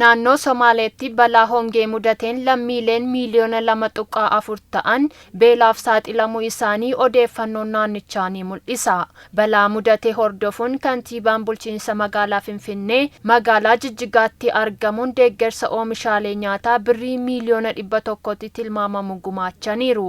Naannoo Somaaleetti balaa hongee mudateen lammiileen miiliyoona 2.4 ta'an beelaaf saaxilamuu isaanii odeeffannoon naannichaa ni mul'isa. Balaa mudate hordofuun kantiibaan bulchiinsa magaalaa Finfinnee magaalaa Jijjigaatti argamuun deeggarsa oomishaalee nyaataa birrii miiliyoona 100tti tilmaamamu gumaachaniiru.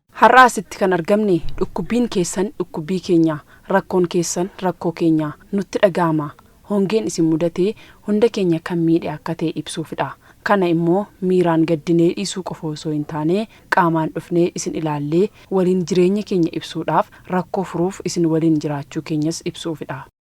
Har'a asitti kan argamne dhukkubbiin keessan dhukkubbii keenya, rakkoon keessan rakkoo keenya nutti dhaga'ama. Hongeen isin mudate hunda keenya kan miidhe akka ta'e ibsuufidha. Kana immoo miiraan gaddinee dhiisuu qofa osoo hin taane qaamaan dhufnee isin ilaallee waliin jireenya keenya ibsuudhaaf, rakkoo furuuf isin waliin jiraachuu keenyas ibsuufidha.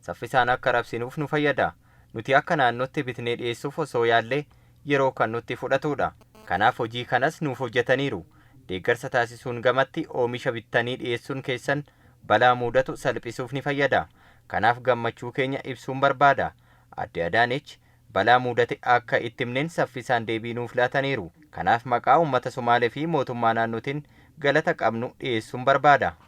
saffisaan akka rabsinuuf nu fayyada. Nuti akka naannootti bitnee dhiyeessuuf osoo yaallee yeroo kan nutti fudhatuudha. Kanaaf hojii kanas nuuf hojjataniiru. Deeggarsa taasisuun gamatti oomisha bittanii dhiyeessuun keessan balaa muudatu salphisuuf ni fayyada. Kanaaf gammachuu keenya ibsuun barbaada. Aadde Adaanech balaa muudate akka itti himneen saffisaan deebii nuuf laataniiru. Kanaaf maqaa uummata Somaalee fi mootummaa naannootiin galata qabnu dhiyeessuun barbaada.